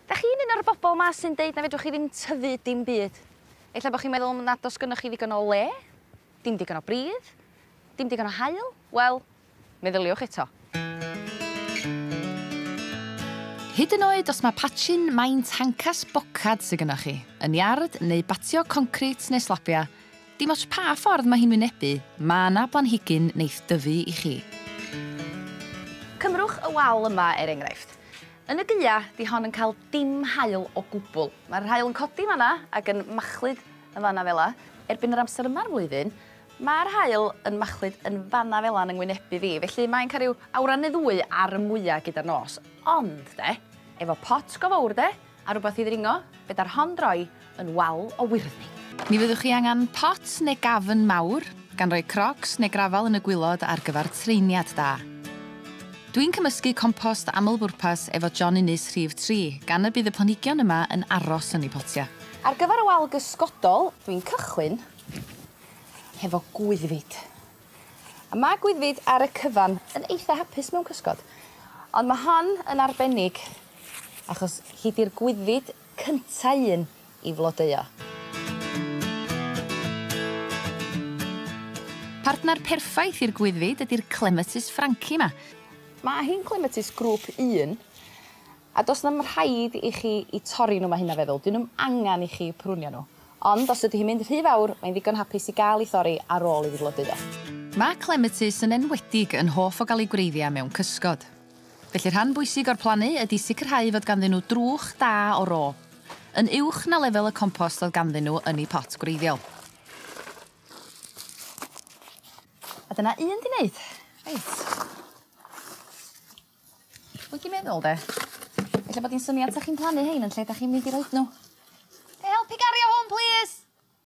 'Dach chi'n un o'r bobol 'ma sy'n deud na fedrwch chi ddim tyfu dim byd. Ella bo' chi'n meddwl nad o's gynnoch chi ddigon o le, dim digon o bridd, dim digon o haul, wel, meddyliwch eto. Hyd yn oed os mae patchyn main tancas bocad sy gynnoch chi, yn iard neu batio concrit neu slabia, Dim ots pa ffordd mae hi'n wynebu, mae yna blanhigyn neith dyfu i chi. Cymrwch y wal yma er enghraifft. Yn y Gaea, 'di hon yn cael dim haul o gwbl. Mae'r haul yn codi yn fan 'na ac yn machlud yn fan 'na fel 'na. Erbyn yr amser yma o'r flwyddyn, mae'r haul yn machlud yn fan 'na fel 'na yn 'y ngwynebu fi, felly mae'n cael rhyw awran neu ddwy ar y mwya' gyda'r nos. Ond 'de, efo pot go fowr 'de, A rhywbeth i ddringo? Fe da'r hon droi yn wal o wyrddni. Ni fyddwch chi angen pot neu gafn mawr, gan roi crocs neu grafal yn y gwilod ar gyfer treiniad da. Dwi'n cymysgu compost aml-bwrpas efo John Innes rhif tri, gan y bydd y planhigion yma yn aros yn eu potiau. Ar gyfer y wal gysgodol, dwi'n cychwyn hefo gwyddfid. A ma' gwyddfid ar y cyfan yn eitha hapus mewn cysgod. Ond ma' hon yn arbennig achos hi 'di'r gwyddfid cynta un i flodeuo. Partner perffaith i'r gwyddfid ydi'r clematis franci 'ma. Ma' hi'n gclematis grŵp un A does na'm rhaid i chi i torri nhw, mae hynna feddwl, 'dyn nhw'm angen i chi prunio nhw. Ond os ydy hi'n mynd rhy fawr, mae'n ddigon hapus i gael ei thorri ar ôl iddi flodeuo. Mae clematis yn enwedig yn hoff o gael eu gwreiddia mewn cysgod. Felly rhan bwysig o'r plannu ydy sicrhau fod ganddyn nhw drwch da o ro, yn uwch na lefel y compost oedd ganddyn nhw yn eu pot gwreiddiol. A dyna un 'di neud. Reit. Dwi 'di meddwl 'de ella bod 'i'n syniad 'sach chi'n plannu 'hein yn lle 'dach chi'n mynd i roid n'w. Ga' i helpu gario hwn plîs?